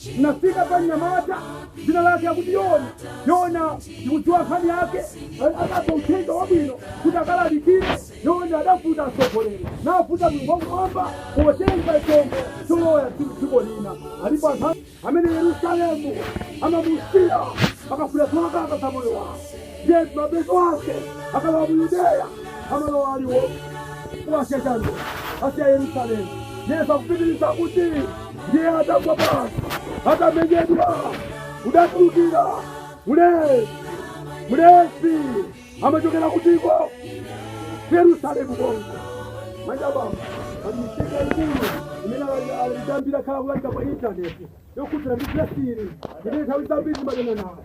Ndinafika pa mnyamata dzina lake akuti Yona. Yona tikudziwa nkhani yake, adapatsidwa uthenga wabwino kuti akalalikire. Yona adavuta atsogoleri, navuta Mulungu wa Kumwamba potenga chombo cholowa dziko lina. Alipo amene Yerusalemu amamusiya akafuna zolakaka za moyo wao, ndiye mapeto ake akalowa mu Yudeya malo aliwonse kuwasya chanzo asiya Yerusalemu. Yesu akupitiriza kuti ndiye atagwa pansi atamenyedwa kudatulukira Mlevi Mlevi amachokera kutiko Yerusalemu konko manjaba amisika ikulu imene alitambira khala kulandira kwa intaneti yokhuzira ndi plasiri imene nthawi zambiri zimadana nawo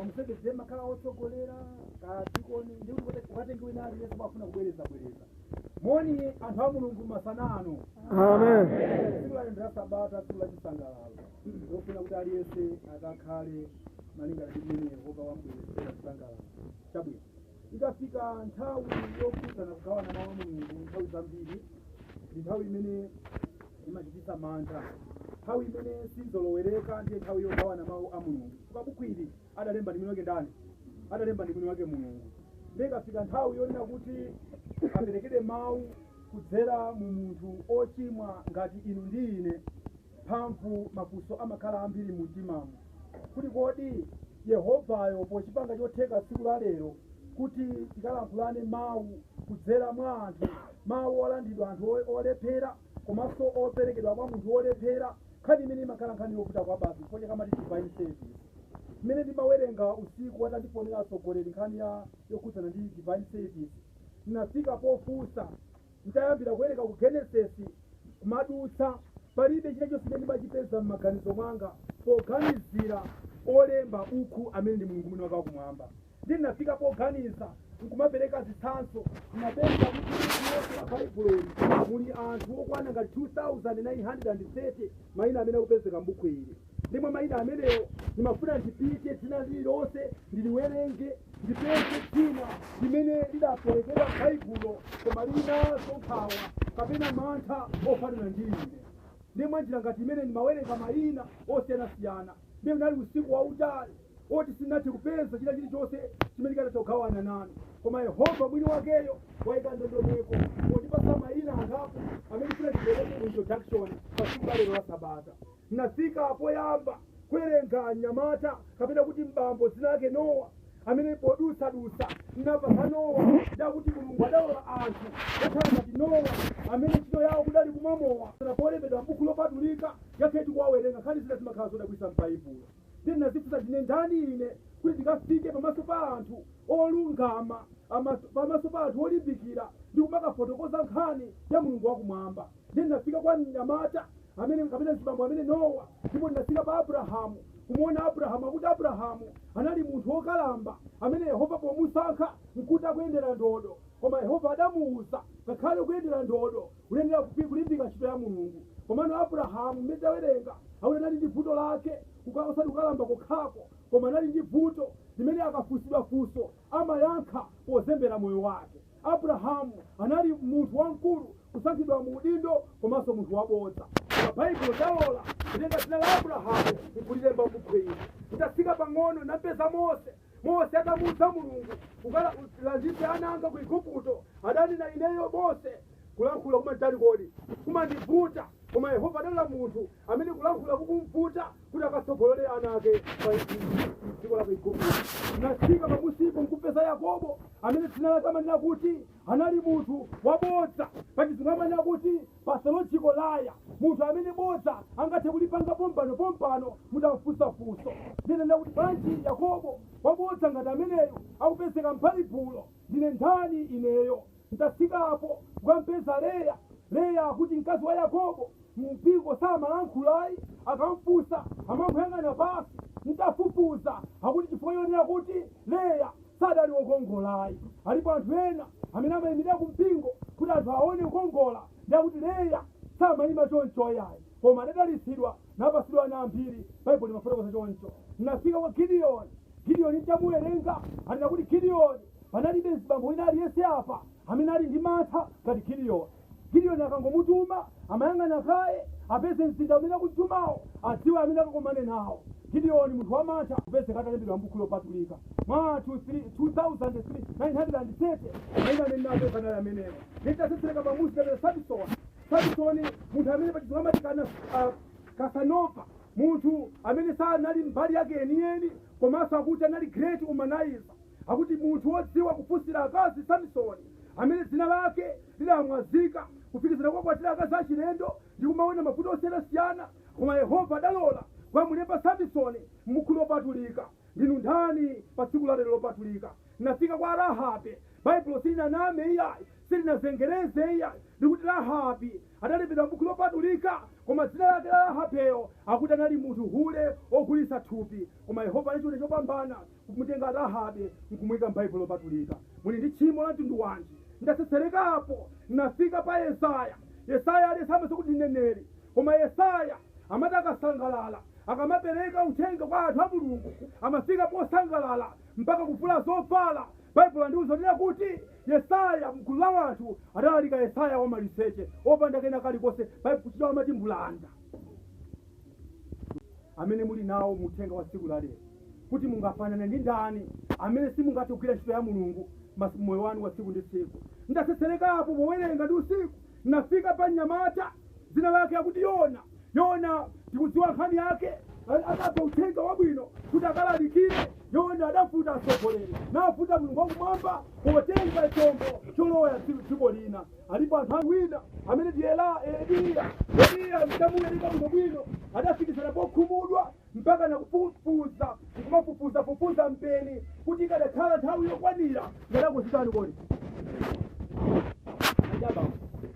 omseke zemakhala otsogolera kadzikoni ndi kuti ukatenge wina aliyense mafuna kubwereza bwereza moni anthu a mulungu masana ano Amen. tsiku la lero la sabata tsiku la chisangalalo ndikufuna kuti aliyense akakhale malinga ndi mmene Yehova wamubweretsera chisangalalo chabwino Ikafika nthawi yokhudzana kugawana Mawu a Mulungu, nthawi zambiri ndi nthawi imene imachititsa mantha, nthawi imene sizolowereka, ndiye nthawi yogawana Mawu a Mulungu, chifukwa buku ili adalemba ndi mwini wake ndani? Adalemba ndi mwini wake Mulungu. Ndiye ikafika nthawi yonena kuti aperekedwe mawu kudzera mu munthu ochimwa ngati inu ndi ine, mphamvu mafunso amakhala ambiri mu mtimamu kuti kodi Yehovayo achipanga chotheka tsiku la lero kuti tikalankhulane mau kudzera mwa anthu, mau olandiridwa anthu olephera komanso operekedwa kwa munthu olephera nkhani imene imakhala nkhani yovuta kwabasi chifukwa chake amati divine service. Mmene ndimawerenga usiku atandifonera atsogoleri nkhani yokhudzana ndi divine service ndinafika pofunsa. Nditayambira kuwerenga ku Genesis kumadutsa, palibe china chonse chimene ndimachipeza m'maganizo mwanga poganizira olemba bukhu amene ndi Mulungu mwini wake wakumwamba. Ndinafika poganiza nkumapereka zitsanzo, ndinapeza kuti bukhu lonse la Baibuloli muli anthu okwana ngati 2930 maina amene akupezeka m'bukhu ili. Ndiye mwa maina amenewo ndimafuna ndipite dzina lililonse ndiliwerenge ndipeze dzina limene lidaperekedwa m'Baibulo koma linazo nkhawa kapena mantha ofanana ndi ine. Ndi mwa njira ngati imene ndimawerenga maina osiyanasiyana. Ndiye unali usiku wautali woti sindinathe kupeza china chilichonse chimene ndikadatha kugawana nanu. Koma Yehova mwini wakeyo waika ndondomeko pondipatsa maina angapo amene ndifuna ndipereke mu introduction pa tsiku la lero la Sabata. Nafika poyamba kwerenga mnyamata, kapena kuti m'bambo dzina lake Nowa, amene podutsa-dutsa n'namva za Nowa ndi akuti Mulungu adalola anthu okhala ngati Nowa amene ntchito yao kudali kumamwa mowa. Polembedwa m'Buku Lopatulika yakhe tikuwawerenga, nkhani zina zimakhala zodabwitsa m'Baibulo. Ndiye ndinadzifunsa, ndine ndani ine kuti ndikafike pamaso pa anthu olungama, pamaso pa anthu olimbikira ndi kumakafotokoza nkhani ya Mulungu wakumwamba? Ndiye ndinafika kwa mnyamata amene, kapena mzibambo amene Nowa, ndipo ndinafika pa Abrahamu, kumuwona Abrahamu, akuti Abrahamu anali munthu wokalamba amene Yehova pomusankha nkuti akuyendera ndodo. Koma Yehova adamuuza, Ngakhale ukuyendera ndodo, uyenera kupi, kulimbika ntchito ya Mulungu. Komano Abrahamu, mmene tawerenga, akuti anali ndi vuto lake, kuka, osati kukalamba kokhako, koma anali ndi vuto limene akafunsidwa funso, amayankha pozembera moyo wake. Abrahamu anali munthu wamkulu kusankhidwa mu udindo komanso munthu wabodza. Koma Baibulo lidalola kutenga dzina la Abrahamu nkulilemba m'bukhu ili. Nditafika pang'ono ndinampeza Mose. Mose atamuuza Mulungu ukalanditse ana anga ku Iguputo, adanena ineyo Mose kulankhula kumatani kodi? Kumandivuta. Koma Yehova adalola munthu amene kulankhula kukumvuta kuti akatsogolere ana ake pa dziko la ku Igupto. Ndinatsika pamusipo n'kupeza Yakobo amene dzina lake amanena kuti anali munthu wabodza. Pachizungu amanena kuti pathological liar, munthu amene bodza angathe kulipanga pompano pompano mutamfunsa funso. Ndinena kuti bwanji Yakobo wabodza ngati ameneyo akupezeka m'Baibulo? Ndine ndani ineyo? Nditafika apo kukampeza Leya, Leya akuti mkazi wa Yakobo mu mpingo samalankhula ayi, akamfunsa amangoyang'ana pansi. Nditafufuza akuti chifukwa chonena kuti Leya sadali wokongola ayi. Alipo anthu ena amene amayimirira ku mpingo kuti anthu aone kukongola ndiye akuti Leya samayima choncho iyayi. Koma adadalitsidwa napatsidwa ana ambiri, Baibulo limafotokoza choncho. Ndinafika kwa Gidiyoni. Gideoni n'tamuwerenga, anena kuti, Gideoni, panalibe mzibambo wina aliyense apa amene ali ndi mantha ngati Gideoni. Gideoni akangomutuma, amayang'ana kaye, apeze mzinda umene akumtumawo, adziwe amene akakomane nawo. Gideoni, munthu wamantha, akupezeka atalembedwa m'Buku Lopatulika. Mwa anthu 3, 2,930, maina amene ndinawapeza anali amenewa. Ndiye nditatsetsereka pamusi ndapeza Samisoni. Samisoni, munthu amene pachizungu amati Kana, ah, Casanova. Munthu amene sanali mbali yake yeniyeni komanso akuti anali great womanizer akuti munthu wodziwa kufunsira akazi Samisoni amene dzina lake lidamwazika kufikizana kukakwatira akazi achilendo ndi kumaona mavuto osiyanasiyana koma Yehova adalola kukamulemba Samisoni m'bukhu lopatulika Ndinu ndani pa tsiku la lero lopatulika? Nafika kwa Rahabe Baibulo silinaname iyayi. silinazengereze iyayi, ndikuti Rahabi adalembedwa m'Buku Lopatulika, koma dzina lake la Rahabeyo akuti anali munthu hule ogulitsa thupi, koma Yehova anachiona chopambana kumutenga Rahabe nkumuika m'Baibulo Lopatulika. Muli ndi tchimo la mtundu wanji? Ndatsetsereka apo, nafika pa Yesaya. Yesaya aliyense amadziwa kuti ndi mneneri, koma Yesaya amati akasangalala akamapereka uthenga kwa anthu a Mulungu, amafika posangalala mpaka kuvula zovala. Baibulo landiuza kunena kuti. Yesaya mgulu la anthu adalalika Yesaya wamaliseche opanda kena kalikonse pa Chichewa amati mbulanda. Amene muli nawo mu uthenga wa tsiku la lero kuti mungafanane ndi ndani amene simungathe kugwira ntchito ya Mulungu pa moyo wanu wa tsiku ndi tsiku. Ndatsetserekapo powerenga ndi usiku Nafika pa mnyamata dzina lake akuti Yona. Yona tikudziwa nkhani yake, adathawa uthenga wabwino kuti akalalikire. Yona adaputa atsogoleri, naputa Mulungu wakumwamba potenga chombo cholowa dziko lina. Alipo anthu a wina amene ndi Ela, Eliya. Eliya mtamuwerenga bwinobwino adafikitsana pokhumudwa mpakana kufufuza nkumafufuzafufuza mpeni kuti ikadakhala nthawi yokwanira nkadakuchitani kodi adaba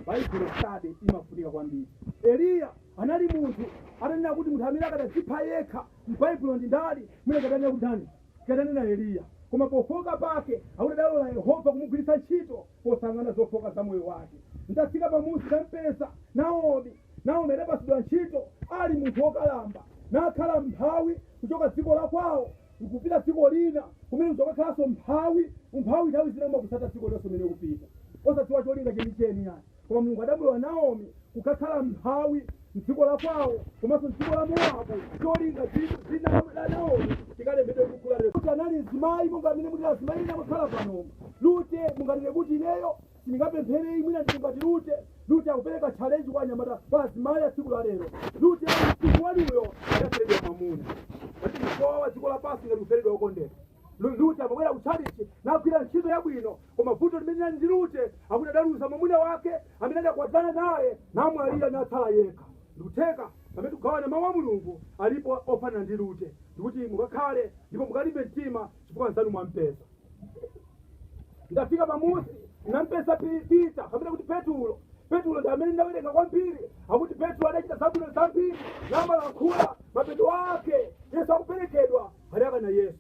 baibulo study imafunika kwambiri eliya anali munthu atanena kuti munthu amene akadazipha yekha m'baibulo ndi ndani mwina tikadanena kuti ndani Tikananena Eliya, koma pofooka pake, akuti adalola Yehova kumugwiritsa ntchito posayang'ana zofooka za moyo wake. Ndatsika pamunsi, ndampeza Naomi. Naomi adapatsidwa ntchito ali munthu wokalamba, nakhala mmphawi kuchoka dziko la kwawo nkupita dziko lina kumene kuja kukakhalanso mmphawi. Umphawi nthawi zina umakutsata dziko lonse umene ukupita, osadziwa cholinga chenicheni ayi. Koma Mulungu adamulola Naomi kukakhala mmphawi m'dziko la kwawo komanso m'dziko la Mowabu cholinga dzina la Naomi likalembedwe m'buku la Rute. Anali mzimayi monga amene muli azimayi ena amakhala pano. Rute munganene kuti ineyo sindingapemphere mwina ndili ngati Rute. Rute akupereka challenge kwa anyamata kwa azimayi a tsiku la lero. Rute msinkhu wanuyo adaferedwa mwamuna. Kodi nkowawa dziko lapansi ngati kuferedwa okondedwa? Lu- lute amabwera kutchalichi nagwira ntchito yabwino koma vuto limene linali ndi lute akuti adaluza mwamuna wake amene adakwatana naye namwalira natsala yekha ndikutheka pamene tikugawana mawu a mulungu alipo ofanana ndi lute ndikuti mukakhale ndipo mukalimbe mtima chifukwa nzanu mwampeza ndafika pamunsi nampeza Pi- pita kapena kuti petulo petulo ndi amene ndawerenga kwambiri akuti petulo adachita zabwino zambiri namalankhula mapeto ake yesu akuperekedwa adakana Yesu.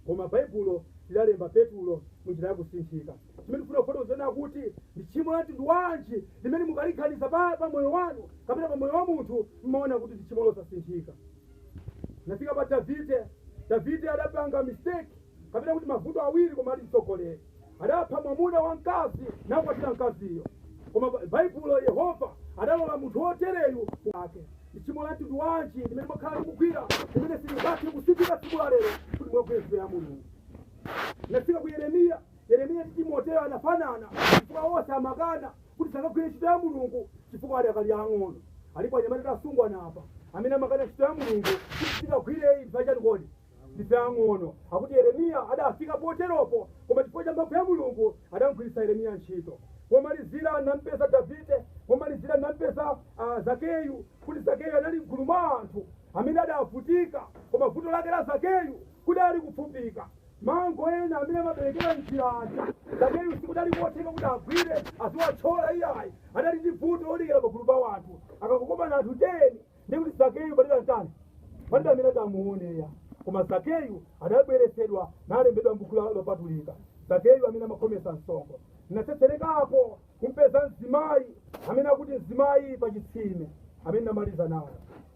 Koma Baibulo lidalemba Petulo mu njira ya kusinthika. Chimene ndikufuna kufotokoza ndi chonena kuti ndi tchimo la mtundu wanji limene mukaliganiza pa pa moyo wanu kapena pa moyo wa munthu mmaona kuti ndi tchimo losasinthika. Nafika pa Davide. Davide adapanga mistake. kapena kuti mavuto awiri koma ali mtsogoleri. Adapha mwamuna wa mkazi nakwatira mkaziyo. Koma Baibulo Yehova adalola munthu wotereyu ake. Ndi tchimo la mtundu wanji limene mwakhala mukugwira limene silingathe kusinthika tsiku la lero kuti mugwire ntchito ya Mulungu? Nafika ku Yeremiya. Yeremiya ndi Timoteyo anafanana chifukwa onse amakana kuti sangagwire ntchito ya Mulungu chifukwa adakali ang'ono. Alipo anyamata asungwana apa amene amakana ntchito ya Mulungu kuti sitingagwire chifukwa chani kodi? ndife ang'ono akuti yeremiya adafika poteropo koma chifukwa cha mphamvu ya mulungu adamgwiritsa yeremiya ntchito pomalizira nampeza davide pomalizira nampeza uh, zakeyu kuti zakeyu anali mkulu mwa anthu amene adavutika koma vuto lake la zakeyu kudali kufupika mango ena amene amaberekera m'njira aja zakeyu sikudali kotheka kuti agwire aziwatchola iyayi adali ndi vuto lodikira pagulu pa wanthu akakumana anthu teni ndiye kuti zakeyu padalibe antani palibe amene adamuoneya koma zakeyu adabweretsedwa nalembedwa m'buku la- lopatulika zakeyu amene amakhometsa msonkho natsetserekapo kumpeza mzimayi amene akuti mzimayi pa chitsime amene namaliza naye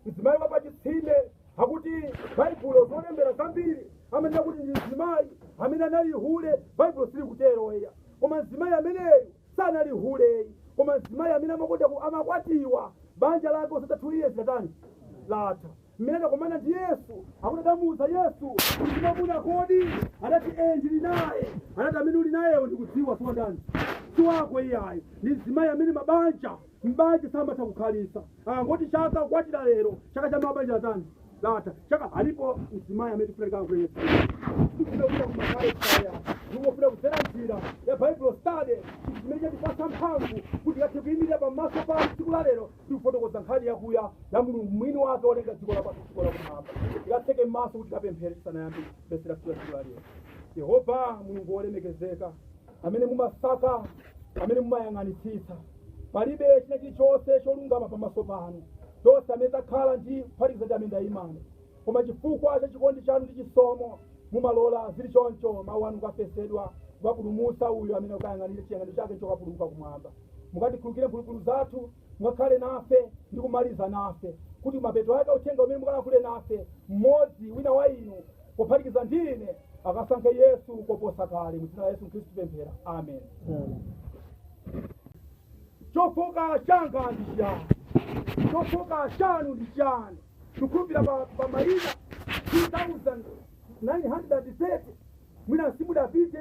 mzimayi wa pa chitsime akuti baibulo zolembera zambiri amene akuti ndi mzimayi amene anali hule baibulo silikutero eya koma mzimayi ameneyu sanali huleyi koma mzimayi amene amakonda ku amakwatiwa banja lake osatha 2 years litatani latha mmene adakomana ndi yesu akuti adamuwuza yesu kuti uli ndi mwamuna kodi adati ee ndili naye adati amene uli nayeyo ndikudziwa siwandani siwako iyayi ndi mzimayi amene mabanja M'banja samatha kukhalitsa akangoti chaka kukwatira lero chaka cha mawa banja latani latha chaka alipo mzimayi amene tifunika kwa yesu tikufuna kupita kumakale kaya tikufuna kudzera njira ya bible study chinthu chimene chatipatsa mphamvu kuti tithe kuyimirira pamaso pa tsiku la lero ndi kufotokoza nkhani yakuya ya mulungu mwini wake olenga dziko lapansi dziko lakumwamba tikatseke maso kuti tikapemphere tisanayambe phunziro la tsiku la tsiku la lero yehova mulungu wolemekezeka amene mumasaka amene mumayang'anitsitsa palibe china chilichonse cholungama pamaso panu tonse amene takhala kuphatikiza ndi amene ndayimane koma chifukwa cha chikondi chanu ndi chisomo mumalola zili choncho mawu anu akafesedwa kukapulumutsa uyo amene akayang'anira chiyang'aniro chake chokapulumuka kumwamba mukatikhulukire mphulupulu zathu mukakhale nafe ndi kumaliza nafe kuti mapeto ake uthenga umene mukalankhule nafe mmodzi wina wa ife kuphatikiza ndi ine akasankhe yesu koposa kale mu dzina la yesu khristu tapemphera amen chofoka changa ndi chiyani chofoka chanu ndi chiyani tikukhulupirira pa pa mayina 29 30 mwina simudapite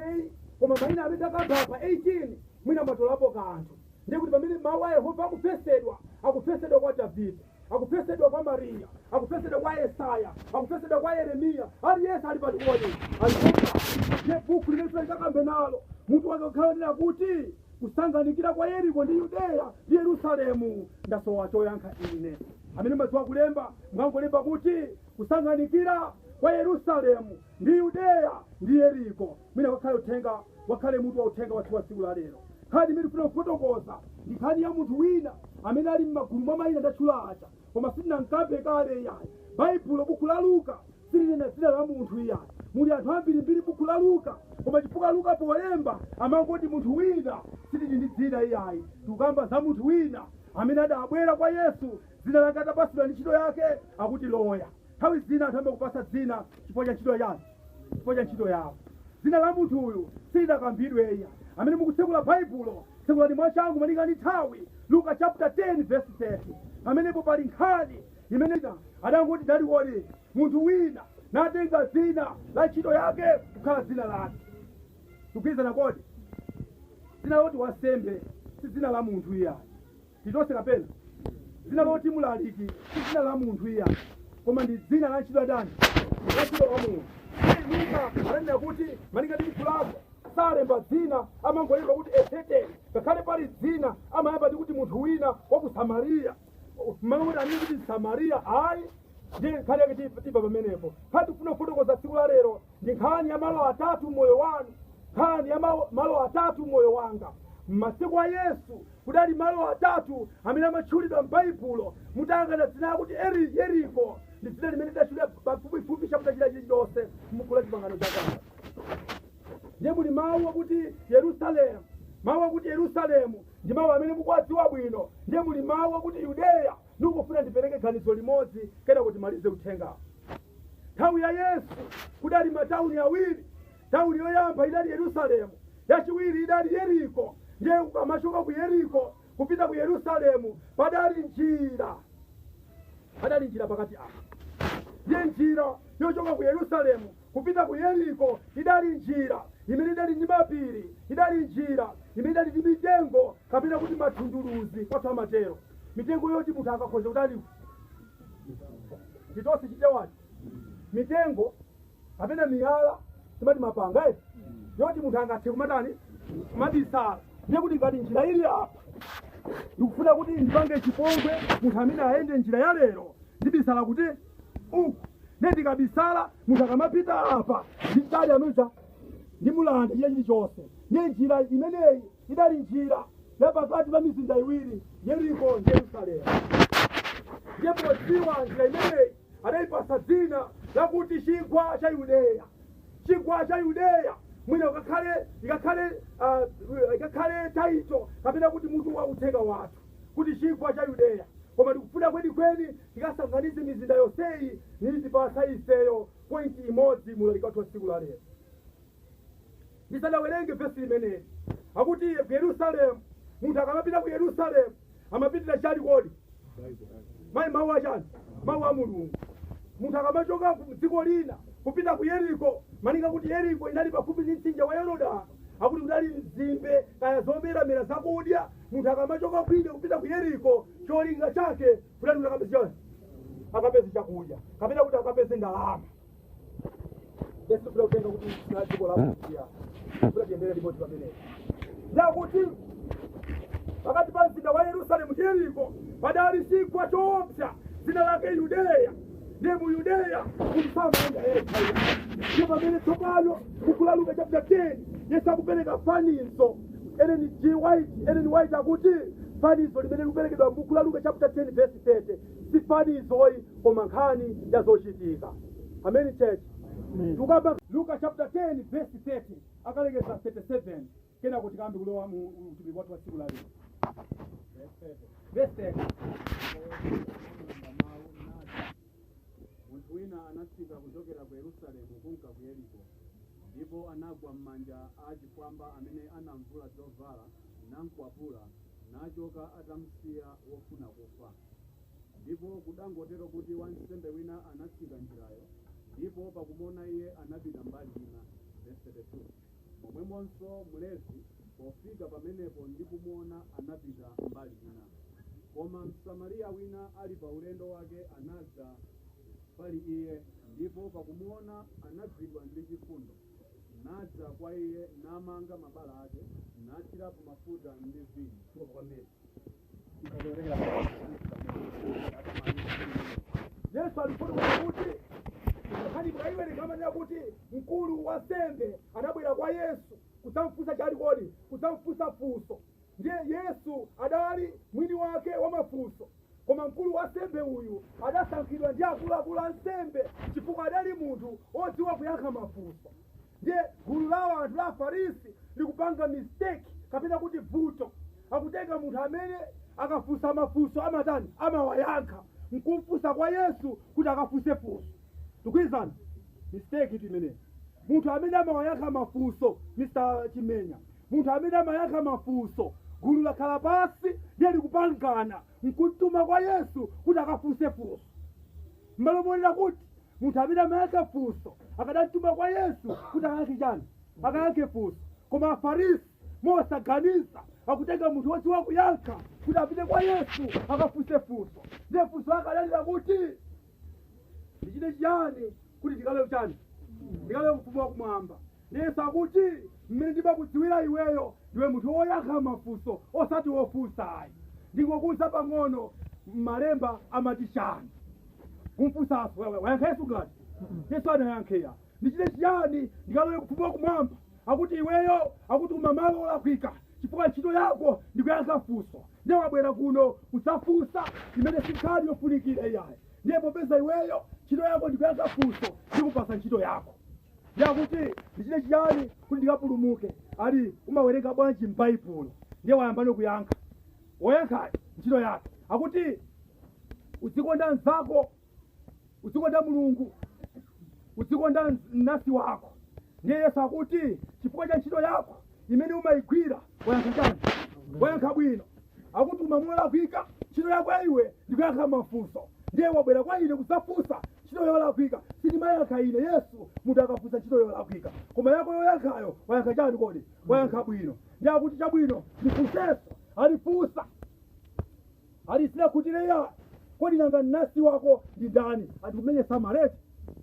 koma mayina amene takantha pa 18 mwina mwatolapo kanthu Ndiye kuti pamene Mawu a Yehova akufesedwa, akufesedwa kwa Davide, akufesedwa kwa Mariya, akufesedwa kwa Yesaya, akufesedwa kwa Yeremiya, aliyense ali pati kodi? Ali kokha. Ndiye bukhu limene tinali takambe nalo, mutu wake ukhala onena kuti kusanganikira kwa Yeriko ndi Yudeya ndi Yerusalemu. Ndasowa choyankha ine. Amene madziwa kulemba, mungolemba kuti kusanganikira kwa Yerusalemu ndi Yudeya ndi Yeriko. Mwina ukhale uthenga wakhale mutu wa uthenga wa tsiku la lero. Nkhani imene tikufuna kufotokoza ndi nkhani ya munthu wina amene ali m'magulu a mayina ndatchula aja, koma sitinamkambe kale iyayi. Baibulo, buku la Luka, silinena dzina la munthu iyayi. Muli anthu ambirimbiri m'buku la Luka, koma chifukwa Luka polemba amangoti munthu wina, sitili ndi dzina iyayi. Tikukamba za munthu wina amene adabwera kwa Yesu, dzina lake atapatsidwa ndi ntchito yake akuti loya. Nthawi zina anthu amakupatsa dzina chifukwa cha ntchito yako, chifukwa cha ntchito yawo. Dzina la munthu uyu silidakambidwe iya. Amene mukutsekula Baibulo, tsekulani mwachangu malinga ndi nthawi, Luka chapter 10 verse 30. Pamenepo pali nkhani imene adangoti Daliwoli, munthu wina, natenga dzina la ntchito yake kukhala dzina lake. Tikugwirizana kodi? Dzina loti wansembe si dzina la munthu iyayi. Tili tonse kapena? Dzina loti Mlaliki si dzina la munthu iyayi, koma ndi dzina la ntchito ya ndani? La ntchito ya munthu. Iye Luka ananena kuti malinga ndi bukhu lake salemba dzina amangolemba kuti Esetere. Ngakhale pali dzina amayamba ndi kuti munthu wina wa ku Samariya. Mmalo moti anene kuti Samariya ayi ndiye nkhani yake ti- tipeza pamenepo. Nkhani tikufuna kufotokoza tsiku la lero ndi nkhani ya malo atatu m'moyo wanu, nkhani ya malo- malo atatu m'moyo wanga. M'masiku a Yesu Kudali malo atatu amene amatchulidwa m'Baibulo. Mutayang'ana dzina lakuti Yeri, Yeriko, ndi dzina limene lidatchulidwa pafupifupi chaputa china chilichonse m'buku la Chipangano Chakale. Ndiye muli mawu akuti Yerusalemu. Mawu akuti Yerusalemu ndi mawu amene mukuwadziwa bwino. Ndiye muli mawu akuti Yudeya. Ndikufuna ndipereke ganizo limodzi kenako timalize uthenga. Nthawi ya Yesu kudali matawuni awiri Tauni yoyamba idali Yerusalemu, yachiwiri idali Yeriko. Ndiye ukamachoka ku Yeriko kupita ku Yerusalemu padali njira, padali njira pakati apa. Ndiye njira yochoka ku Yerusalemu kupita ku Yeriko idali njira imene idali ndi mapiri, idali njira imene idali ndi mitengo kapena kuti mathunduluzi kwathu amatero, mitengo yoti munthu akakhoza kudali chitosi chitewani mitengo kapena miyala timati mapanga eti yoti munthu angathe kumatani kumabisala ndiye kuti ngati njira ili apa ndikufuna kuti ndipange chipongwe munthu amene ayende njira ya lero ndibisala kuti uku ne ndikabisala munthu akamapita apa nditani anuja ndimulanda iye chilichonse ndiye njira imeneyi idali njira ya pakati pa mizinda iwiri Yeriko ndi Yerusalemu ndiye podziwa njira imeneyi adaipatsa dzina lakuti chigwa cha Yudeya. Chigwa cha Yudeya mwina ikakhale ikakhale uh, ikakhale taito kapena kuti mutu wa uthenga wathu kuti chigwa cha Yudeya, koma ndikufuna kwenikweni tikasanganize mizinda yonseyi nizipatsa ifeyo pointi imodzi mu ulaliki wathu wa tsiku la lero. Ndisanawerenge vesi limeneli, akuti ku Yerusalemu, munthu akamapita ku Yerusalemu amapitira chani kodi? Mai mawu a chani? Mawu a Mulungu. Munthu akamachoka ku dziko lina kupita ku Yeriko, malinga kuti Yeriko inali pafupi ndi mtsinje wa Yorodano, akuti kudali mzimbe kaya zomeramera zakudya. Munthu akamachoka kwina kupita ku Yeriko, cholinga chake kudali kuti akapeze chani? Akapeze chakudya kapena kuti akapeze ndalama. ndesibula kutenga kuti za dziko la kusiya kuti tiyendere limodzi pamenepo akuti pakati pa mzinda wa yerusalemu ndi yeriko padali chigwa choopsa dzina lake yudeya ndiye mu yudeya kusamayenda yekha ndiye pamene tsopano buku la Luka chapter 10 yesu akupereka fanizo ellen g white ellen white akuti fanizo limene likuperekedwa m'buku la Luka chapter 10 verse 30 si fanizo ayi koma nkhani ya zochitika ameni church tukamba luka chapter 10 verse 30 akalekeza 37 kenako tikayambe kulowa mu utumiki wathu wa tsiku la lero verse 30 munthu wina anatsika kuchokera ku yerusalemu kunka ku yeriko ndipo anagwa m'manja a achifwamba amene anamvula zovala namkwapula nachoka atamsiya wofuna kufa. Ndipo kudangotero kuti wansembe wina anatsika njirayo, ndipo pakumuona iye, anapita mbali ina. Vesi 32, Momwemonso Mlevi, pofika pamenepo ndi kumuona, anapita mbali ina. Koma Msamariya wina, ali pa ulendo wake, anadza pali iye, ndipo pakumuona, anagwidwa ndi chifundo. nadza kwa iye, namanga mabala ake, nathirapo mafuta ndi vinyo. Yesu akufotokoza kuti nkhani mwaiwerenga amanena kuti mkulu wa nsembe anabwera kwa yesu kudzamfunsa chani kodi kudzamfunsa funso Ndiye Yesu adali mwini wake wa mafunso. Koma mkulu wansembe uyu adasankhidwa ndi akuluakulu ansembe chifukwa adali munthu odziwa kuyankha mafunso. Ndiye gulu la anthu la Afarisi likupanga mistake kapena kuti vuto. Akutenga munthu amene akafunsa mafunso amatani? Amawayankha. Nkumfunsa kwa Yesu kuti akafunse funso. Tikugwirizana? Mistake tu imeneyi. Munthu amene amawayankha mafunso, Mr Chimenya. Munthu amene amayankha mafunso. Gulu lakhala pansi ndiye likupangana nkumtuma kwa Yesu kuti akafunse funso. M'malo monena kuti munthu amene amayankha funso akadamtuma kwa Yesu kuti akayankhe chani? Akayankhe funso. Koma Afarisi mosaganiza akutenga munthu wodziwa kuyankha kuti apite kwa Yesu akafunse funso. Ndiye funso lake adali lakuti, ndichite chiyani kuti ndikalowe chani ndikalowe ufumu wakumwamba ndiye yesu akuti mmene ndimakudziwira iweyo ndiwe munthu woyankha mafunso osati wofunsa ayi ndingokuuza pang'ono malemba amati chani kumfunsaso wayankha yesu ngati yesu anayankheya Ndichite chiyani ndikalowe ku ufumu wa kumwamba? Akuti iweyo akutuma malo olakwika chifukwa ntchito yako ndikuyankha funso. Ndiye wabwera kuno kudzafunsa imene si nkhani yofunikira iyayi. Ndiye popeza iweyo ntchito yako ndikuyankha funso, ndikupatsa ntchito yako. Ndiye akuti ndichite chiyani kuti ndikapulumuke? Ali umawerenga bwanji m'Baibulo? Ndiye wayambano kuyankha. Woyankhayo ntchito yake akuti uzikonda mnzako uzikonda mulungu uzikonda mz- mnasi wako ndiye yesu akuti chifukwa cha ntchito yako imene umayigwira wayankha chani wayankha bwino akutuma molakwika ntchito yako iwe ndikuyankha mafunso ndiye wabwera kwa ine kuzafunsa ntchito yolakwika sindimayankha ine yesu munthu akafunsa ntchito yolakwika koma yako yoyankhayo wayankha chani kodi wayankha bwino ndiye akuti chabwino ndifunseso ali funsa Ati sinakhutire ya kodi nanga mnasi wako ndi ndani ati kumene samareti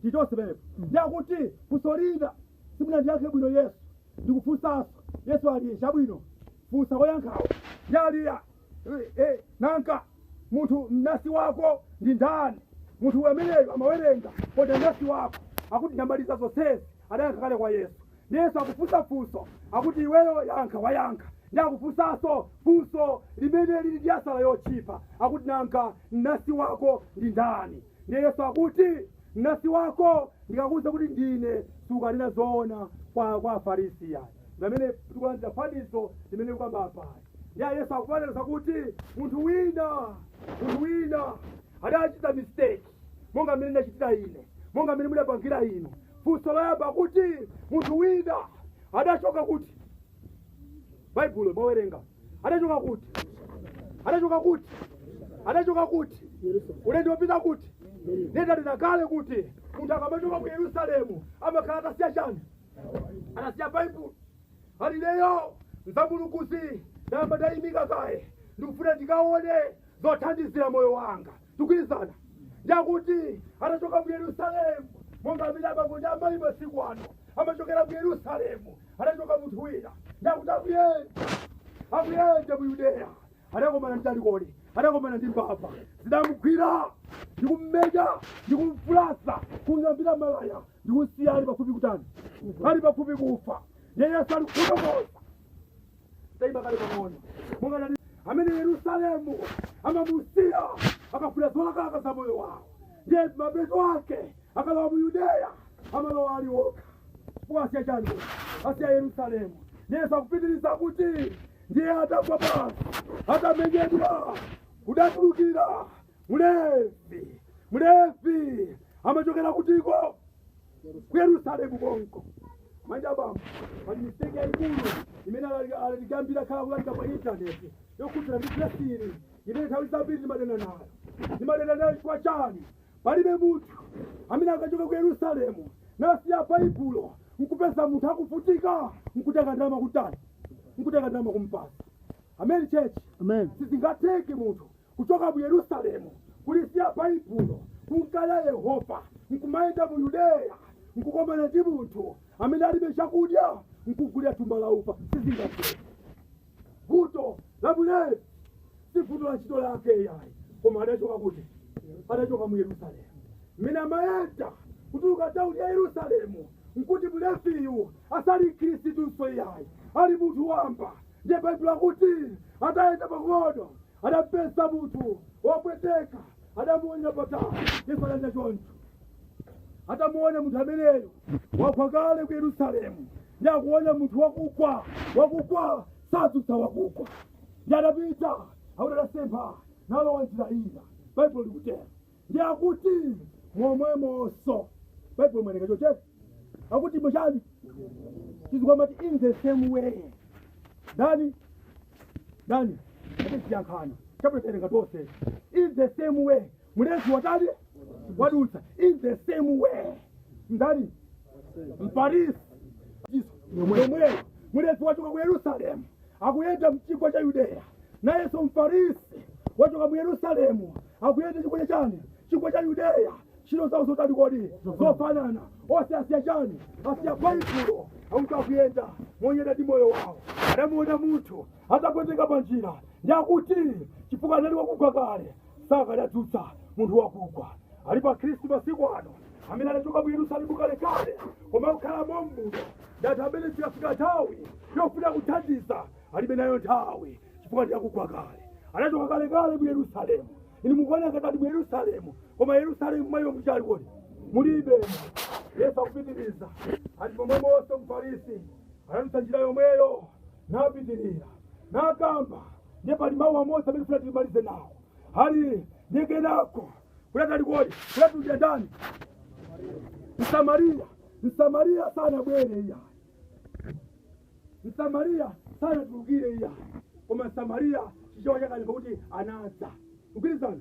tichose penepo ndiye akuti funso lina simunandiyankhe bwino yesu ndikufunsanso yesu ali chabwino funsa oyankhawo ndi ali ya eh, eh, nanka munthu mnasi wako ndi ndani munthu ameneyo amawerenga kodi mnasi wako akuti ndamaliza zonsezi adayankha kale kwa yesu Yesu akufunsa funso, akuti, Iweyo yankha. Wayankha. Ndiye akufunsanso funso limene lili ndi answer yotchipa, akuti, Nanga mnansi wako ndi ndani? Ndiye Yesu akuti, Mnansi wako ndikakuuza kuti ndine, sukanena zoona kwa, kwa Afarisi ayi. Ndamene tikulandira fanizo limene tikukamba apayi. Ndiye Yesu akufananiza kuti munthu wina, munthu wina adachita mistake. monga mmene ndachitira ine monga mmene mudapangira inu funso loyamba kuti munthu wina adachoka kuti baibulo mumawerenga adachoka kuti adachoka kuti adachoka kuti ulendo wopita kuti ndiye ndanena kale kuti munthu akamachoka ku yerusalemu amakhala atasiya chani atasiya baibulo ali ineyo zamulunguzi ndayamba ndayimika kaye ndikufuna ndikaone zothandizira moyo wanga tikugwirizana ndiye akuti adachoka ku yerusalemu monga mmene abambo ndi amayi masiku ano amachokera ku yerusalemu adachoka munthu wina ndiye akuti akuyenda akuyenda mu yudeya adakomana ndi ndani kodi adakomana ndi mbava zidamugwira ndikumumenya ndikumvulaza kung'ambira malaya ndikusiya ali pafupi kutani ali pafupi kufa ndiye yesu ali kufotokoza Taima kaye pang'ono. Monga amene Yerusalemu amamusiya akafuna zolakalaka za moyo wawo. Ndiye mapeto ake akalowa mu Yudeya amalowa ali okha. Chifukwa asiya chani? Asiya Yerusalemu. Ndiye Yesu akupitiriza kuti ndiye atagwa pansi atamenyedwa kudatulukira mlevi mlevi amachokera kutiko ku yerusalemu konko mayi ndi bambo pali mistake yaikulu imene alaliki ambiri akhala akulalika pa intaneti yokhudzana ndi blasiri imene nthawi zambiri ndimadana nayo ndimadana nayo chifukwa chani palibe munthu amene akachoka ku yerusalemu nasiya baibulo nkupeza munthu akuvutika nkutenga ndalama kutani nkutenga ndalama kumpatsa amen chechi Amen. sizingatheke munthu kuchoka mu Yerusalemu, kulisiya Baibulo, kumkana Yehova, nkumayenda mu Yudeya, nkukomana ndi munthu amene alibe chakudya, nkugulira thumba la ufa, sizingatheke. Vuto la Mlevi si vuto la ntchito yake yayi, koma adachoka kuti? Adachoka mu Yerusalemu. Mmene amayenda kutuluka tauni ya Yerusalemu, nkuti Mleviyu asali Mkhristunso yayi, ali munthu wamba. Ndiye Baibulo akuti atayenda pang'ono, adapeza munthu wopweteka adamuonera patali yesu adanena choncho atamuona munthu ameneyo wagwa kale ku yerusalemu ndiye akuona munthu wakugwa wakugwa sadzutsa wakugwa ndiye adapita akuti adasempha nalowa njira ina baibulo likutero Ndiye akuti momwemonso. Baibulo mumawerenga chotere. Akuti mu chani? Chizungu amati in the same way. Ndani? Ndani? Tiziyankhana. Chapter tawerenga tonse. In the same way. Mlevi watani? Wadutsa. In the same way. Ndani? Mfarisi. Yomweyo. Mlevi wachoka ku Yerusalemu. akuyenda mchigwa cha yudeya nayenso mfarisi wachoka mu yerusalemu akuyenda chigwa cha chani chigwa cha yudeya ntchito zawo zotani kodi zofanana onse asiya chani asiya baibulo akuti akuyenda moyenda ndi moyo wawo adamuona munthu atapweteka pa njira ndi akuti chifukwa anali wakugwa kale sakadadzutsa munthu wakugwa alipo akhristu masiku ano amene adachoka mu yerusalemu kalekale koma kukhala mommuno ndi anthu amene ikafika nthawi yofuna kuthandiza alibe nayo nthawi chifukwa ndi akugwa kale anachoka kalekale mu yerusalemu inu mukuona ngati ali mu yerusalemu koma yerusalemu mwa iwo mu chani kodi mulibe yesu akupitiriza ati momwemonso mfarisi anadutsa njira yomweyo napitirira nakamba ndiye pali mawu amodzi amene ndifuna timalize nawo ali ndiye kenako kunatani kodi kunadza uja ndani msamariya msamariya sanabwere iyayi msamariya sanatulukire iyayi koma msamariya chichewa chakale akuti anadza tikugwirizana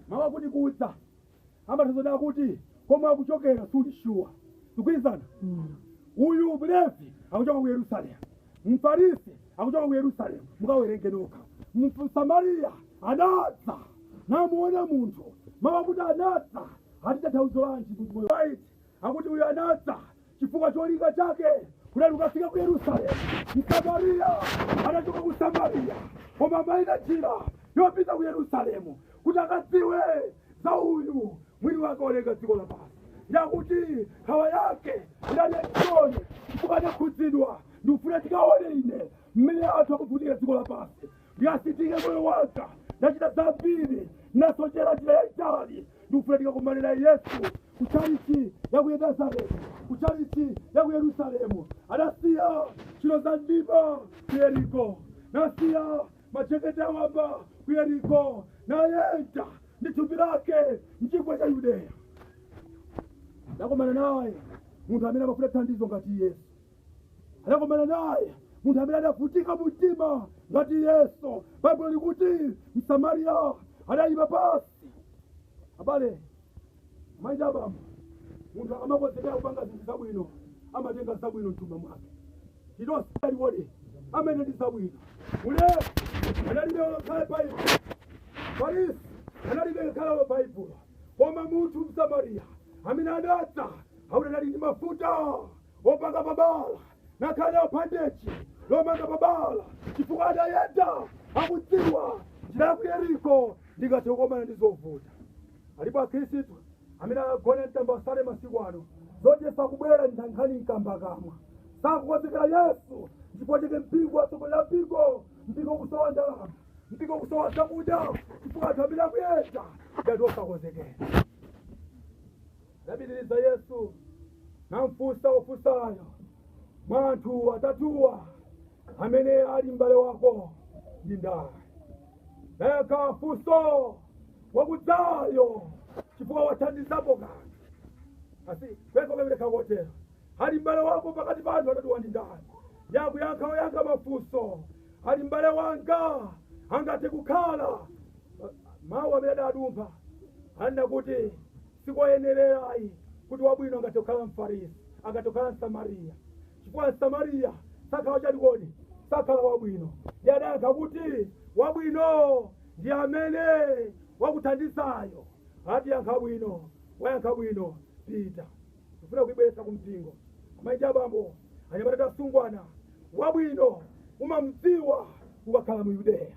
mawu akuti kudza amatanthauza kuti komwe akuchokera suli shuwa tikugwirizana uyu mlevi akuchoka ku yerusalemu mfarisi akuchoka ku yerusalemu mukawerenge nokha msamariya anadza namuona munthu mawu akuti anadza ali ndi tanthauzo lanji kuti moyo waiti akuti uyu anadza chifukwa cholinga chake kunali kukafika ku yerusalemu msamariya anachoka ku samariya koma amayenda njira yopita ku yerusalemu kuti akadziwe za uyu mwini wake olenga dziko lapansi ndi akuti nkhawa yake inali ya chani chifukwa anakhudzidwa ndikufuna ndikaone ine mmene anthu akuvutika dziko lapansi ndiye usinthike moyo wanga ndachita zambiri ndinasochera njira yayitali ndikufuna ndikakumane na yesu ku tchalitchi ya ku nazareti ku tchalitchi ya ku yerusalemu adasiya ntchito za mdima ku yeriko nasiya majekete awamba ku yeriko nayenda ndi thupi lake mchigwa cha yudeya adakumana naye munthu amene amafuna thandizo ngati yesu anakomana naye munthu amene adavutika mu mtima ngati iyenso baibulo likuti msamariya adayima pansi abale mayi abambo munthu akamakonzekera kupanga zinthu zabwino amatenga zabwino mthumba mwake chitosi aliwode amene ndi zabwino mlevi analibe kale baibulo mfarisi analibe kale baibulo koma munthu msamariya amene adadza uja anali ndi mafuta wopaka pabala nakhala ndi bandeji lomanga pabala chifukwa adayenda akudziwa njira ya ku yeriko ndingathe kukomana ndi zovuta alipo akhristu amene agona mmbali mwa msewu masiku ano zoti Yesu akubwera ndi nkhani mkambakamwa sakukonzekera yesu chifukwa chake mpingo watsogolera mpingo mpingo kusowa ndalama mpingo kusowa chakudya chifukwa anthu amene akuyenda ngati osakonzekera Adapitiriza Yesu namfunsa wofunsayo, mwa anthu atatuwa amene ali m'bale wako ndi ndani? Neka funso wakudzayo chifukwa wathandizapo kanthu. Asi peko kapereka kotero ali m'bale wako pakati pa anthu atatuwa ndi ndani? Yakuyankha oyankha mafunso ali m'bale wanga angathe kukhala mawu amene adadumpha nanena kuti sikoyenerera ayi kuti wabwino angathe kukhala mfarisi angathe kukhala msamariya chifukwa msamariya sakhala chani kodi sakhala wabwino nde adayankha kuti wabwino ndi amene wakuthandizayo ati wayankha bwino wayankha bwino pita tifuna kuibweretsa ku mpingo amayi abambo anyamata ndi asungwana wabwino umamdziwa ukakhala mu yudeya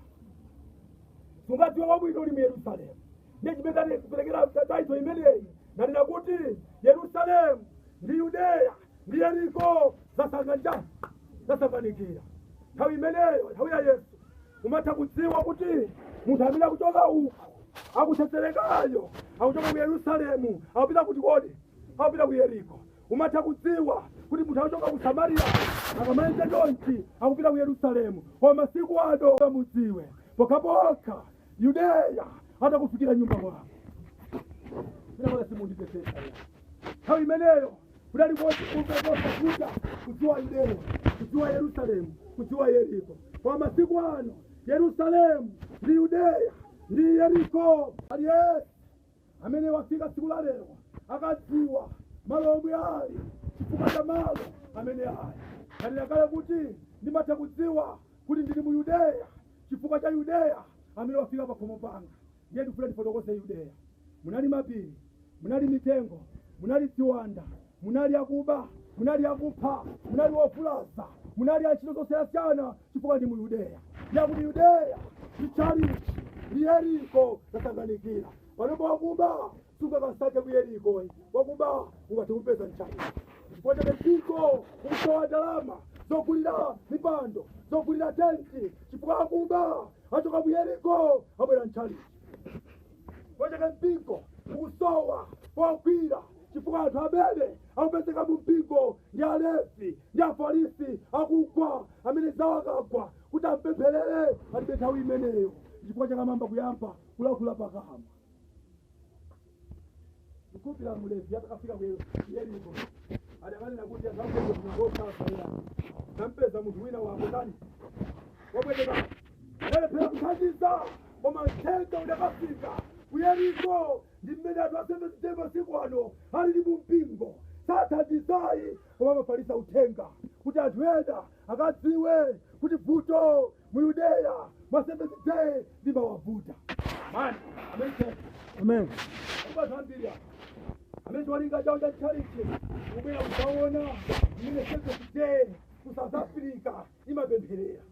sungadziwe wabwino uli mu yerusalemu ndiye chifukwa ndakupatsirani taito imeneyi ndanena kuti yerusalemu ndi yudeya ndi yeriko zasangana zasanganikira nthawi imeneyo nthawi ya yesu umatha kudziwa kuti munthu amene akuchoka uku akutsetserekayo akuchoka ku yerusalemu akupita kuti kodi akupita ku yeriko umatha kudziwa kuti munthu akuchoka ku samariya akamayenda chonchi akupita ku yerusalemu koma masiku ano umudziwe pokhapokha yudeya atakufikira nyumba mwako sindinakuone sungandipepese nthawi imeneyo kudali konse kukakosakuta kudziwa yudeya kudziwa yerusalemu kudziwa yeriko koma masiku ano yerusalemu ndi yudeya ndi yeriko aliyense amene wafika tsiku la lero akudziwa malo omwe ali chifukwa cha malo amene ali. Ndanena kale kuti ndimatha kudziwa kuti ndili mu Yudeya chifukwa cha Yudeya amene wafika pakhomo panga. Ndiye ndifuna ndifotokoze Yudeya. Munali mapiri, munali mitengo, munali ziwanda, Munali akuba, munali akupha, munali ovulaza, munali antchito zosiyanasiyana chifukwa ndi mu Yudeya. Nde ndikuti Yudeya ndi tchalitchi ndi Yeriko zasanganikira. Panopa wakuba sungakasake ku Yeriko ayi, wakuba ungathe kumpeza mtchalitchi. Chifukwa chake mpingo kusowa ndalama zogulira mipando, zogulira tenti, chifukwa akuba achoka ku Yeriko abwera mtchalitchi. kwa chake mpingo ukusowa pogwira chifukwa anthu amene akupezeka mu mpingo ndi alevi ndi afarisi akugwa amene anzawo akagwa kuti ampempherere alibe nthawi imeneyo chifukwa chakamamba kuyamba kulankhula pakamwa Ndikhulupirira Mlevi atakafika ku Yeriko, adakanena kuti adzamupeza munthu wokhala Samirani. Ndampeza munthu wina wakutani wapweteka adalephera kuthandiza, koma uthenga udakafika ku Yeriko. Ndi mmene anthu a Seventh Day masiku ano alili mumpingo sathandizayi, koma amafalitsa uthenga kuti anthu ena akadziwe kuti vuto mu yudeya mwa seventh day limawavuta mani amene amen anthu ambiri amene cholinga chawo cha chalichi kubwera kudzaona mmene seventh day ku south africa imapempherera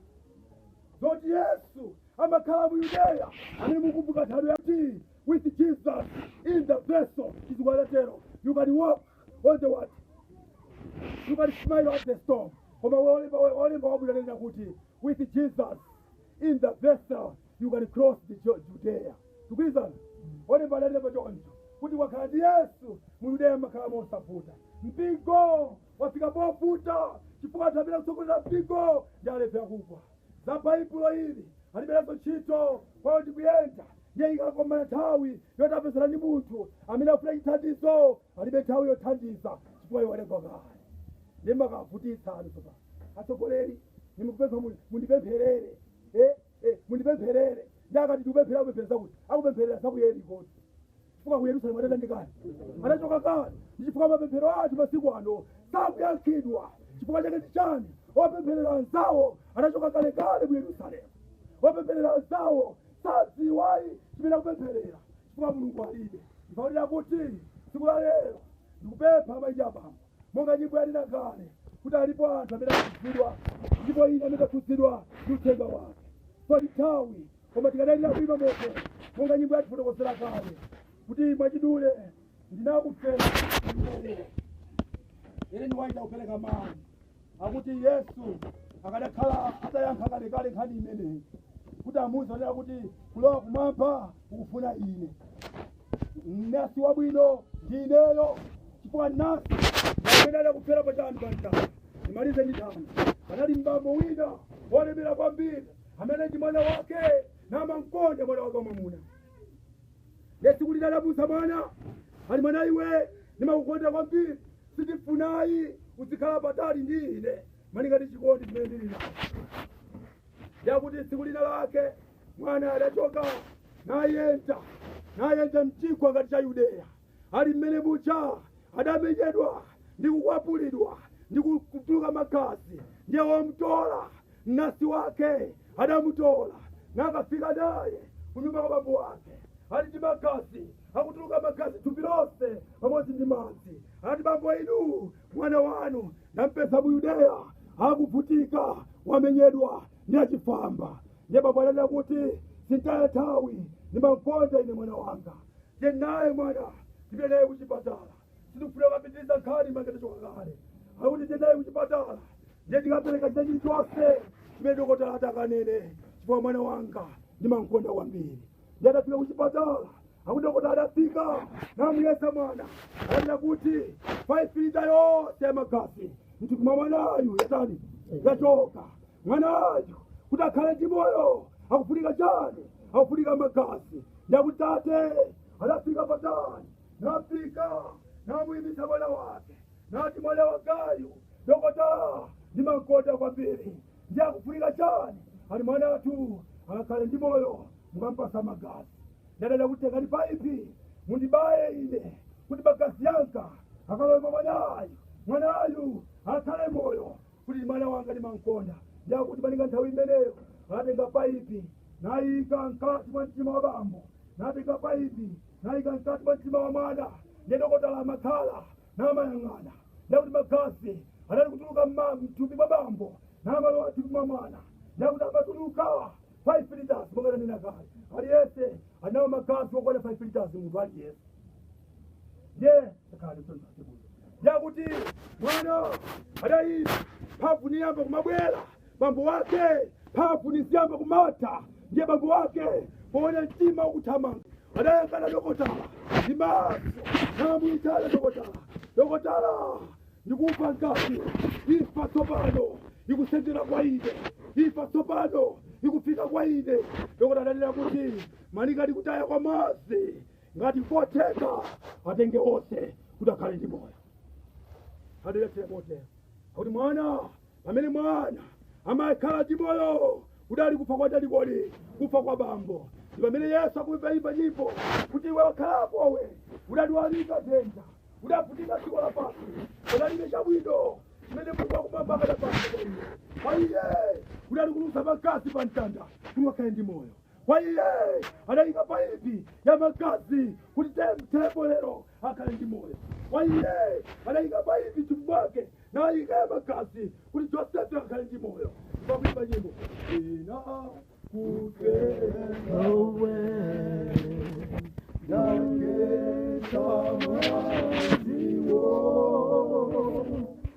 zoti yesu amakhala mu yudeya amene mukumbuka nthawi yati with jesus in the vessel chizikwalatero you can walk On the water. You can smile at the storm. Koma wolemba wolemba wabwino anena kuti with Jesus in the vessel you can cross the Ju- Judea. Tikugwirizana. Wolemba ananena pa choncho kuti wakhala ndi Yesu mu Judea umakhala mosavuta. Mpingo wafika povuta chifukwa anthu amene akutsogolera mpingo ndi Alevi akugwa. Za Baibulo ili alibe nazo ntchito kwawo ndikuyenda Ndiye ikakwana nthawi yoti apezana ndi munthu amene afuna chithandizo, alibe nthawi yothandiza chifukwa iwo adagwa kale. Ndiye makavutitsa anu tsopano. Atsogoleri, ndikupempha mu- mundipempherere. Eh, eh, mundipempherere. Ndiye akati tikupemphera akupemphera zakuti, akupempherera za ku Yeriko. Chifukwa ku Yerusalemu adatani kale? Anachoka kale. Ndi chifukwa mapemphero athu masiku ano sakuyankhidwa. Chifukwa chake ndi chani? Opempherera anzawo anachoka kale kale ku Yerusalemu. Opempherera anzawo sadziwa ayi chimene akupempherera chifukwa mulungu alibe ndikhulupirira kuti tsiku la lero ndikupempha amayi abambo monga nyimbo yanena kale kuti alipo anthu amene akhudzidwa ndipo ine amene akhudzidwa ndi uthenga wake pali nthawi koma tikadalira kuima moto monga nyimbo yatifotokozera kale kuti mwachidule ndinakufera ine ndiwaita kupereka mawu akuti yesu akadakhala atayankha kalekale nkhani imeneyi kuti amuuze onera kuti kulowa kumwamba ukufuna ine mnansi wabwino ndi ineyo chifukwa mnansi amene adakufera pa chanu pamtanda ndimalize ndi nthano anali bambo wina wolemera kwambiri amene ndi mwana wake namamkonda mwana wake wamwamuna nde tsiku lina adamuuza mwana ali mwana iwe ndimakukonda kwambiri sindifunayi uzikhala patali ndi ine malinga ndi chikondi chimene ndili nacho ndiyakuti tsiku lina lake mwana adachoka nayenda nayenda mchigwa ngati cha Yudeya ali m'mene muja adamenyedwa ndi kukwapulidwa ndi ku- kutuluka magazi ndiye wamtola mnasi wake adamutola nakafika naye kunyumba kwa bambo wake ali ndi magazi akutuluka magazi thupi lonse pamodzi ndi madzi anati bambo inu mwana wanu ndampeza mu Yudeya akuvutika wamenyedwa ndi achifwamba ndiye bambo ananena kuti sintaya nthawi ndimankonda ine mwana wanga Tiye naye mwana tipite naye kuchipatala sindikufuna kupitiriza nkhani mangetechoka kale akuti tiye naye kuchipatala ndiye ndikapereka china chilichonse chimene dokotala atakanene chifukwa mwana wanga ndimamkonda kwambiri ndiye atafika kuchipatala akuti dokotala adafika namuyesa mwana ananena kuti 5 liters yonse ya magazi mthupi mwa mwanayu yatani yachoka mwanayu kuti akhale ndi moyo akufunika chani akufunika magazi ndiyakuti tate adafika patali nafika namuyimisa mwana wake nati mwana wangayu dokotala ndimankonda kwambiri ndiye akufunika chani ali mwanatu akakhale ndi moyo mukampatsa magazi ndiye adati tengani paipi mundibaye ine kuti magazi anga akalowe mwa mwanayu mwanayu akhale moyo kuti mwana wanga ndimamkonda ndiyakuti malinga nthawi imeneyo anatenga paipi nayika mkati mwa mtima wa bambo natenga paipi nayika mkati mwa mtima wa mwana ndiye dokotala amakhala namayang'ana ndiyakuti magazi anali kutuluka mma- mthupi mwa bambo namalowa mthupi mwa mwana ndiyakuti amatuluka 5 liters monga nanena kale aliyense anawo magazi okwana 5 liters munthu aliyense ndiye sakhala ndisonatebulo ndiyakuti mwana adayi mphamvu niyamba kumabwera bambo wake mphamvu niziyamba kumatha ndiye bambo wake poona mtima ukuthamanga adayang'ana dokotala ndi maso namuyitana dokotala dokotala ndikumva ngati imfa tsopano ikusendera kwa ine imfa tsopano ikufika kwa ine dokotala adanena kuti malinga ndi kutaya kwa magazi ngati kotheka atenge onse kuti akhale ndi moyo adeletsera motero akuti mwana pamene mwana amakhala ndi moyo kudali kufa kwa talikoli kufa kwa bambo ndi pamene yesu akuipaimba nyimbo kuti iwe wakhala apowe udadwalika nthenda udavutika dziko lapansi udalibe chabwino chimene mulungu wakumwamba akadapatsa kwa iye kwa iye kudali kuluza magazi pa mtanda kuti ukakhale ndi moyo kwa iye adayika paipi ya magazi kuti tembo lero akhale ndi moyo kwa iye anayika paipi mthupi mwake nayika magazi kuti josefe akhale ndi moyo pakuimba nyimbo ina kutengawe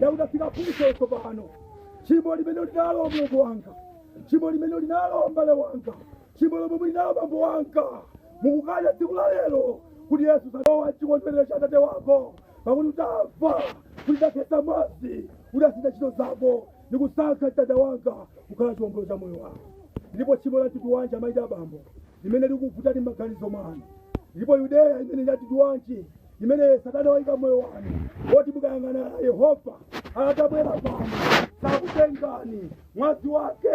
Dauda tikafunse tsopano tchimo limene uli nalo mlongo wanga tchimo limene uli nalo mbale wanga tchimo lomwe muli nalo bambo wanga mukukana tsiku la lero kuti yesu salowa chikondwerero cha atate wako pakuti utamva kuti ndakhetsa mwazi udasintha ntchito zako ndikusankha mtanda wanga kukhala chiwombolo cha moyo wako ndipo tchimo la mtundu wanji amayi ndi abambo limene likuvutani m'maganizo mwanu ndipo yudeya imene ya mtundu wanji imene satana wayika moyo wanu woti mukayang'ana yehova atabwera pano sakutengani mwazi wake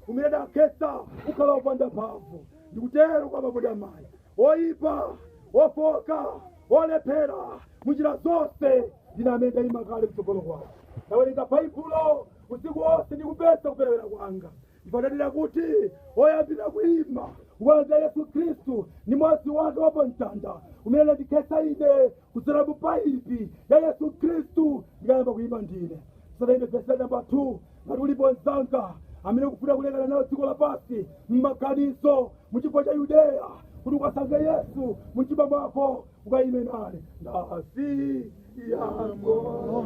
umene adakhetsa ukhala wopanda mphamvu ndikutero kwa abambo ndi amayi oyipa ofooka olephera munjira zonse ndine amene ndayima kale kutsogolo kwawo ndawerenga baibulo usiku wonse ndikupeza kuperewera kwanga ndifananira kuti oyambira kuyima wanga yesu khristu ndi mwazi wake wapamtanda umene ndikhetsa ine kudzera mu paipi ya yesu khristu ndikayamba kuyima ndine sadaime vesi namba 2 ngati ulipo mzanga amene ukufuna kulekana nalo dziko lapansi m'maganizo mu chigwa cha yudeya kuti ukasankhe yesu mu mtima mwako ukayime nane ndasi yako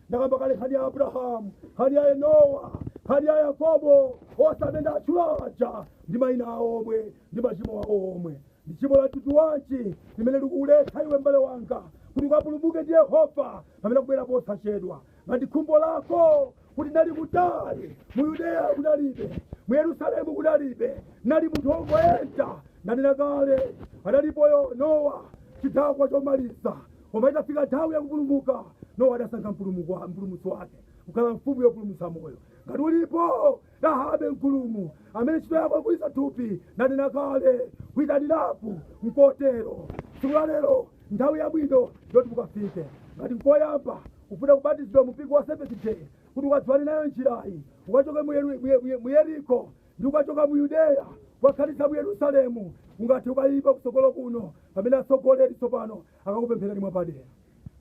ndakamba kale nkhani ya abrahamu nkhani ya nowa nkhani ya yakobo onse amene ndatchula aja ndi mayina awo omwe ndi machimo awo omwe ndi tchimo la mtundu wanji limene likuletsa iwe mbale wanga kuti ukapulumuke ndi yehova pamene akubwera posachedwa ngati khumbo lako kuti nali kutali mu yudeya kunalibe mu yerusalemu kunalibe nali munthu wongoyenda ndanena kale analipoyo nowa chidakwa chomaliza Koma itafika nthawi yakupulumuka, Nowa adasankha mpulumutsi wake kukhala mfumu yopulumutsa moyo. Ngati ulipo Rahabe mgulumu, amene ntchito yako nkugulitsa thupi, ndanena kale, kuitaniraku nkotero. Tsiku la lero nthawi yabwino yoti mukafike. Ngati nkoyamba kufuna kubatizidwa mu mpingo wa Seventh Day, kuti ukadziwane nayo njirayi, ukachoke mu Yeri- mu Ye- mu Ye- mu Yeriko ndi kukachoka mu Yudeya ukakhazitsa mu Yerusalemu ungathe kukaima kutsogolo kuno pamene atsogoleri tsopano akakupempherani mwapadera.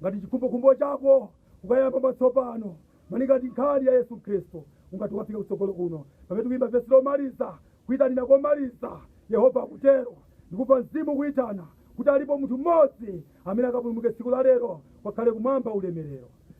Ngati chikhumbokhumbo chako kukayamba mwatsopano malinga ndi nkhani ya Yesu Khristu, ungathe kukafika kutsogolo kuno pamene tikuimba vesi lomaliza, kuitanira komaliza, Yehova akutero, ndikumva Mzimu ukuitana kuti alipo munthu mmodzi amene akapulumuke tsiku la lero kukakhale kumwamba ulemerero.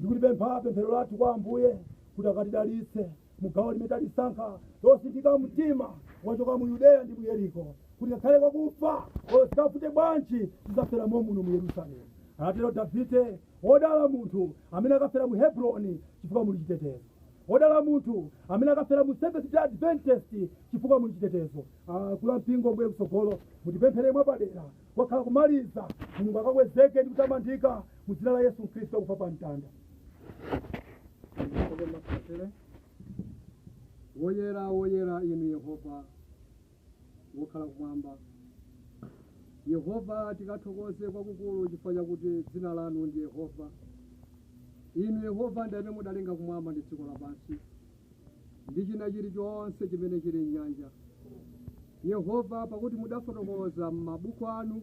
Ndikulipempha pemphero lathu kwa Ambuye kuti akatidalitse mu gawo limene talisankha losinthika mtima kukachoka mu Yudeya ndi mu Yeriko kuti ngakhale kwakufa olo zikavute bwanji tidzafera momuno mu Yerusalemu. Anatero Davide, wodala munthu amene akafera mu Hebroni chifukwa muli chitetezo. Wodala munthu amene akafera mu Seventh Day Adventist chifukwa muli chitetezo. Akulu ampingo abwere kutsogolo mutipemphere mwapadera wakhala kumaliza mulungu akakwezeke ndi kutamandika mu dzina la yesu khristu akufa pa mtanda woyera woyera inu yehova wokhala kumwamba yehova tikathokoze kwakukulu chifukwa chakuti dzina lanu ndi yehova inu yehova ndi amene mudalenga kumwamba ndi dziko lapansi ndi china chilichonse chimene chili m'nyanja. Yehova, pakuti mudafotokoza m'mabuku anu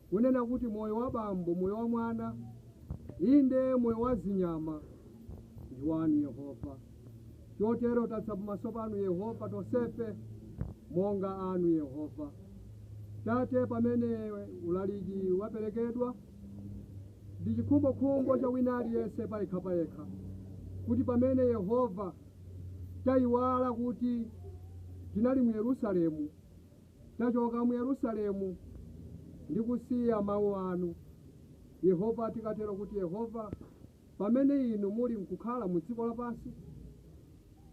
kunena kuti moyo wa bambo, moyo wa mwana, inde moyo wa zinyama ndi wanu Yehova. Chotero tadza pamaso panu Yehova tonsefe monga anu Yehova. Tate, pamene ulaliki waperekedwa Ndi chikhumbokhumbo cha wina aliyense payekhapayekha kuti pamene Yehova tayiwala kuti tinali mu Yerusalemu, tachoka mu Yerusalemu ndi kusiya Mawu anu, Yehova, tikatero kuti, Yehova, pamene Inu muli nkukhala mu dziko lapansi,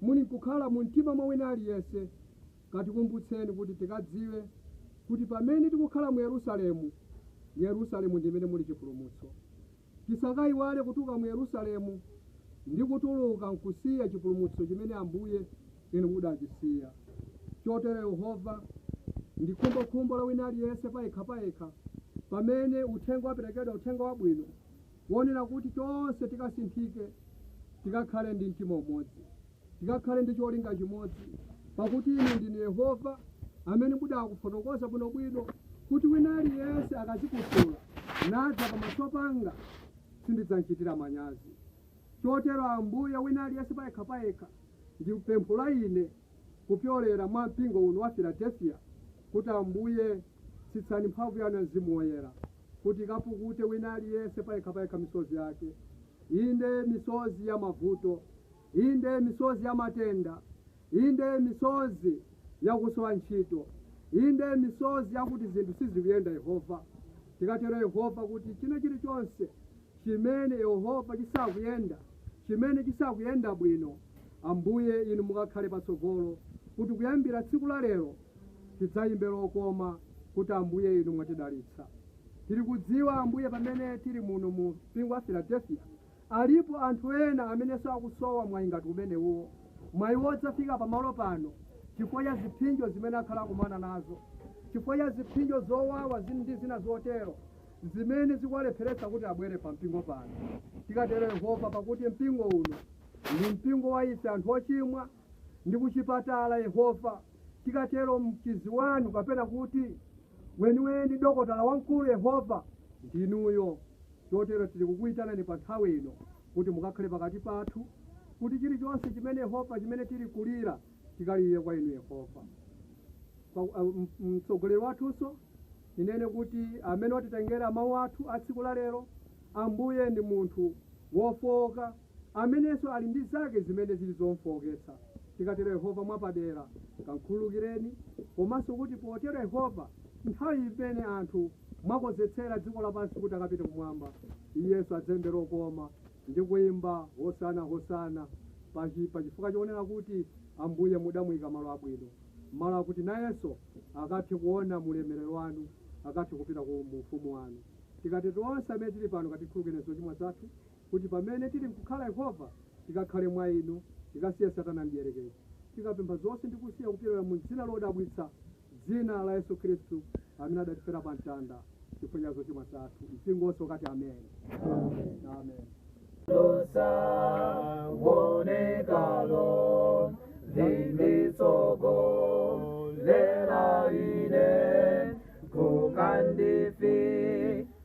muli nkukhala mu mtima mwa wina aliyense, Katikumbutseni kuti tikadziwe kuti pamene tikukhala mu Yerusalemu, Yerusalemu ndi imene muli chipulumutso. Tisakaiwale kutuluka mu Yerusalemu ndi kutuluka n'kusiya chipulumutso chimene Ambuye inu mudachisiya. Chotero Yehova ndi khumbokhumbo la wina aliyense payekhapayekha pamene uthenga waperekedwa, Uthenga Wabwino wonena kuti tonse tikasinthike, tikakhale ndi mtima umodzi. tikakhale ndi cholinga chimodzi, pakuti Inu ndinu Yehova amene mudakufotokoza bwinobwino kuti wina aliyense akadzikusula nadza pamaso panga sindidzamchitira manyazi. Chotero Ambuye, wina aliyense payekha payekha, ndi pempho la ine kupyolera mwa mpingo uno wa Filadefiya kuti Ambuye tsitsani mphamvu yanu ya Mzimu Woyera kuti ikapukute wina aliyense payekha payekha misozi yake, inde misozi ya mavuto. inde, misozi ya matenda, inde, misozi ya kusowa ntchito, inde, misozi yakuti zinthu sizikuyenda, Yehova, tikatero, Yehova, kuti china chirichonse chimene, Yehova, chisakuyenda, chimene chisakuyenda bwino, Ambuye, Inu mukakhale patsogolo, kuti kuyambira tsiku la lero tidzayimbe lokoma, kuti, Ambuye, Inu mwatidalitsa. Tiri kudziwa, Ambuye, pamene tiri muno mu mpingo wa Filadefiya, Alipo anthu ena amenenso akusowa mwayi ngati umenewuwo, mwayi wodzafika pamalo pano chifukwa cha ziphinjo zimene akhala kumana nazo, chifukwa cha ziphinjo, zowawa ndi zina zotero, zimene zikuwalepheretsa kuti abwere pampingo pano. Tikatero, Yehova, pakuti mpingo uno ndi mpingo wa ife anthu ochimwa, ndi kuchipatala, Yehova, tikatero, mchizi Wanu, kapena kuti. weniweni, Dokotala Wamkulu, Yehova, ndi Inuyo. Chotero tiri kukuitanani pa nthawi ino kuti mukakhale pakati pathu, kuti chirichonse chimene, Yehova, chimene tiri kulira, tikalirire kwa Inu, Yehova. Mtsogoleri wathunso, ninene kuti, amene watitengera mawu athu a tsiku la lero, Ambuye, ndi munthu wofooka, amenenso ali ndi zake zimene zili zom'fooketsa. Tikatero Yehova mwapadera kamkhululukireni komanso kuti potero Yehova, nthawi imene anthu mwakonzetsera dziko lapansi kuti akapite kumwamba, iyenso adzaimbe lokoma ndi kuimba, Hosana, Hosana, pa pachifukwa chonena kuti Ambuye mudamuika malo abwino, malo akuti nayenso akathe kuona ulemerero wanu, akathe kupita ku mu ufumu wanu. Tikatero tonse amene tili pano katikhululukireni zochimwa zathu. kuti pamene tirinkukhala Yehova, tikakhale mwa inu, tikasiye Satana Mdierekezi, tikapempha zonse ndi kusiya kupyolera mu Dzina lodabwitsa, Dzina la Yesu Khristu, amene adatifera pa mtanda chifukwa cha zochimwa zathu. Mpingo wonse ukati, Amen. Amen. Wosaonekalo n'ditsogolera ine kukandifika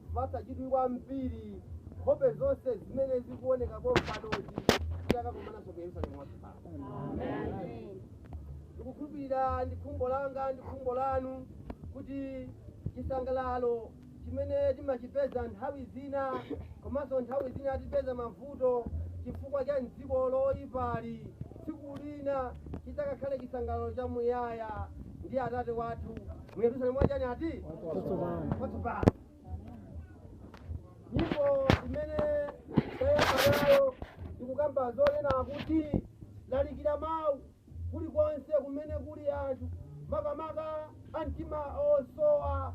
N'zopatsa chidwi kwambiri nkhope zonse zimene zikuoneka pompanozi zitakakumanaso ku Yerusalemu watsopano. Ndikukhulupirira ndi khumbo langa ndi khumbo lanu kuti chisangalalo chimene timachipeza nthawi zina komanso nthawi zina tipeza mavuto chifukwa cha mdziko loyipali tsiku lina chidzakakhale chisangalalo chamuyaya ndi atate wathu mu yerusalemu wachani ati watsopano nyimbo imene tayambanayo ikukamba zonena kuti lalikira mawu kulikonse kumene kuli anthu makamaka amtima osowa